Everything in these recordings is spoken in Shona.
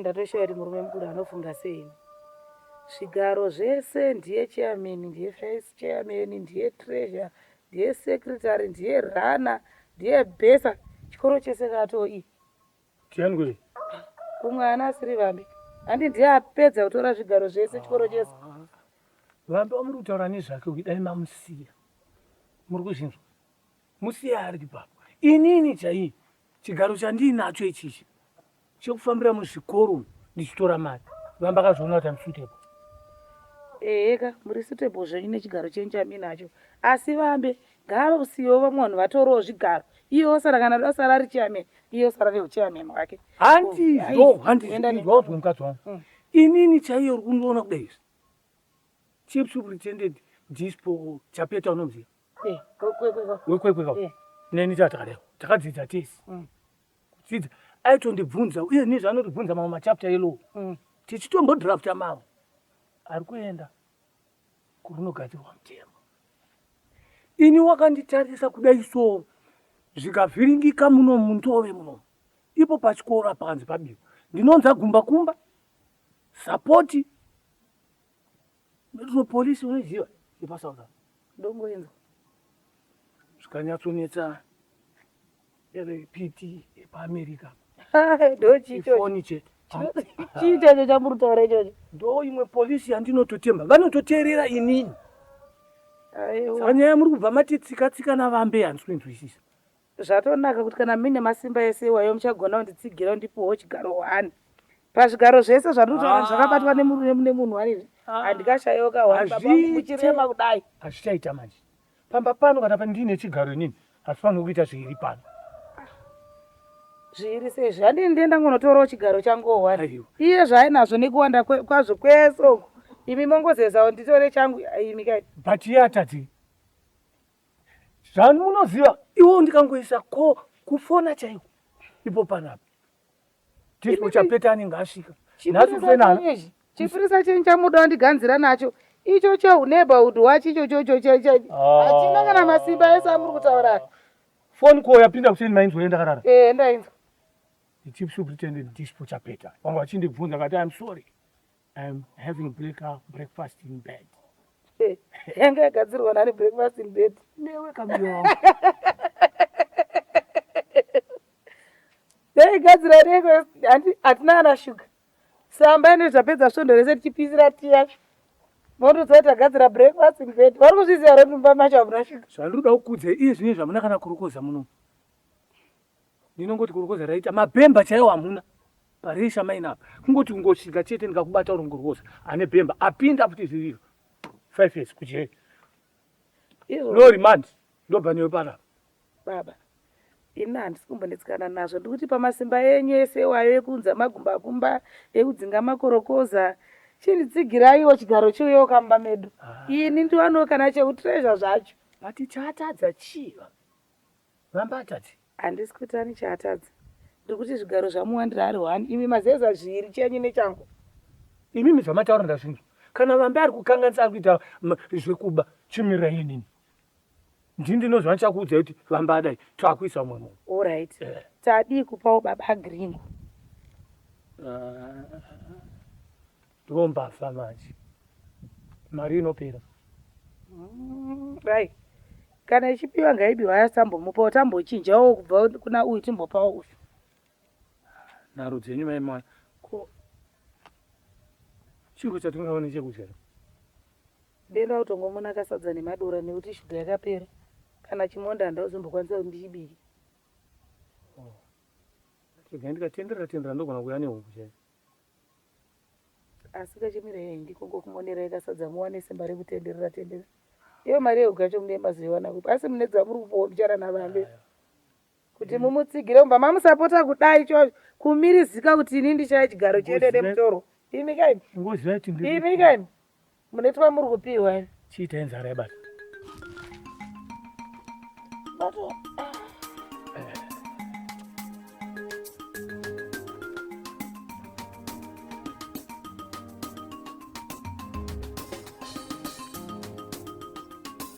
ndatoshoya kuti murume mukuru anofunga sei zvigaro zvese ndiye chairman ndiye vice chairman ndiye treasure ndiye secretary ndiye rana ndiye besa chikoro chese katoi tianwe kumwe ana asiri vambi handi ndiye apedza kutora zvigaro zvese chikoro chese vambi wamuri kutaura nezvake uyu dai mamusiya muri kuzvinzwa Musiye ari ipapo. Inini chaiye chigaro chandiinacho ichichi chekufambira muzvikoro ndichitora mari. Vamba akazviona kuti I'm suitable. Eheka muri suitable zvenyu nechigaro chenyu chamuinacho asi vambe ngaasiyewo vamwe vanhu vatorewo zvigaro iye osara kana da osara ari chairman iye osara neuchairman hwake. Handizvo, handizvo wauzwa mukadzi wangu. Inini chaiye uri kundiona kudai izvi. Chief superintendent Dispo Chapeta unomuziva? Eh, wekwekwe ka neni tatareo takadzidza tese mm. kudzidza aitondibvunza uye nizvo anotibvunza mamwe machapta elow mm. tichitombodrafta mamwe ari kuenda kurunogadzirwa mutemo ini wakanditarisa kudai so zvikavhiringika muno mundove muno ipo pachikoro apakanzi pabirwa ndinonza gumba kumba sapoti Ndotino police unoziva yepaSouth Africa ndongoenza zvikanyatsonetsa piti yepaAmerica ifoni chete chiita icho chamuri kutaura ichocho ndo imwe polisi yandinototemba vanototeerera inini saka nyaya muri kubva matitsikatsika navambe handisi kuinzwisisa Zvatonaka kuti kana muine masimba ese iwayo muchagona kunditsigira undipiwewo chigaro one. Pazvigaro zvese zvandiri kutaura izvi zvakabatwa nemurume mune munhu wani izvi handikashaiwo ka one baba vangu muchirema kudai. Hazvichaita manje. Pamba pano kana ndiine chigaro inini hapfanirwi kuita zviiri pano. Zviiri sei izvi? Handini ndiye ndangonotorawo chigaro changuwo one. Aiwa. Iye zvaainazvo nekuwanda kwe- kwazvo kwese uku imi mongozezawo nditore changu imi kai. But iye atadzei? Zvanu munoziva iwo ndikangoisa ko kufona chaiko ipo panapa. Tisipo chapeta anenge asvika. Nhasi kufenana. Chipirisa chenyu chamuda ndiganzira nacho. Icho chehu neighborhood wacho icho chocho cheche. Ah. Hachina kana masimba ese amuri kutaura. Phone call yapinda kuseni mainzwa ndakarara. Eh ndainzwa. The chief superintendent Dispo Chapeta. Vanga vachindibvunza kati I'm sorry. I'm having breakup breakfast in bed. Eh, yanga yagadzirwa nani breakfast in bed? Newe kamuyoo. Yaigadzira neiko handi hatina ana sugar. Samba ine zvapedza svondo rese tichipisira tea yacho. Motoziva kuti tagadzira breakfast in bed. Vari kuzviziva here kuti mumba macho hamuna sugar? Zvandiri kuda kukuudzai iye zvine zvamuna kana kurokoza muno. ndinongoti kurokoza raita mabhemba chaiwo hamuna paresha maina apa kungoti kungosvika chete ndikakubata uri ngorokoza ane bhemba apinda futi zviriro five years kujeri no remand ndobva newe panapa baba ini handisi kumbonetsikana nazvo ndikuti pamasimba enyu ese iwayo ekuunza magumbakumba ekudzinga makorokoza chinditsigiraiwo chigaro chiuyewo kamba medu ah. ini ndiwanewo kana cheutreasure zvacho but chatadza chiva Vambata ti. Handisi kuti ani chaatadza. Ndiri kuti zvigaro zvamuwandira ari one imi mazeza zviiri chenyu nechangu. Imimi zvamataura ndazvinzwa. Kana Vambe ari kukanganisa ari kuita zvekuba chimirira inini. Ndini ndinozva ndichakuudzai kuti Vambe adai taakuisa umwe munhu. All right. Yeah. Tadii kupawo baba Gringo. Uh... Ndoo mbavha manje. Mari inopera. Mm, right. Kana ichipiwa ngaibiwa yasambomupawo tambochinjawo kubva kuna uyu timbopawo uyu. Nharo dzenyu mai mwana. Ko chiro chatingawa nechekudya. Ndenda kutongomona kasadza nemadora nekuti shuga yakapera. Kana chimonda handazombokwanisa kuti ndichibike. Oh. Chega ndikatenderera tenderera ndogona kuya nehuku chaiyo. Asi kachimira yeye ndiko ngokumonera yekasadza muwane simba rekutenderera tendera. Iyo mari yeuga yacho mune maziwana kupi asi mune dzamuri kupowa bichana navambe. Kuti mm. mumutsigire umba mamusapota kudai cho kumirizika kuti ini ndichaya chigaro chete nemutoro. Imi kaimi. Imi kaimi. Munetwa muri kupihwa ini. Chiita inzara yabata. Bato.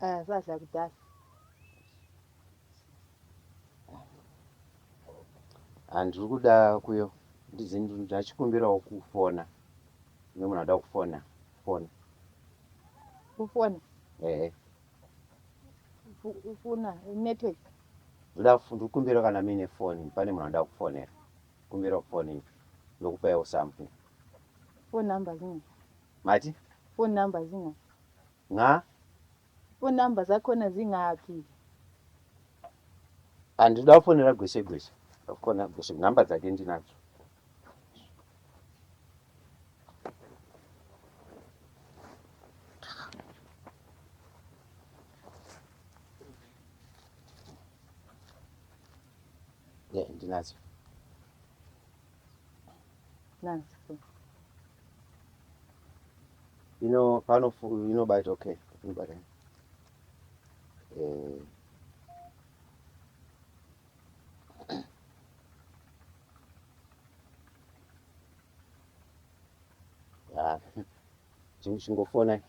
Ah, sadza kudhara. Ah, ndiri kuda kuyo ndizi ndachikumbirawo kufona kune munhu anoda kufona fona Kufona. ehe Fu- Kufuna network. ndoda kufu- ndiri kukumbira kana muine foni pane munhu anoda kufonera kumbira foni ndokupaiwo something Phone number zina. mati Phone number zina. Nxa. Phone number dzakona dzingapi. Handina kufonera gweshe gweshe. Ndakufona gweshe number dzake ndinadzo. Yeah, ndinadzo. ino pano inobata okay inobata eh ah chingofona ching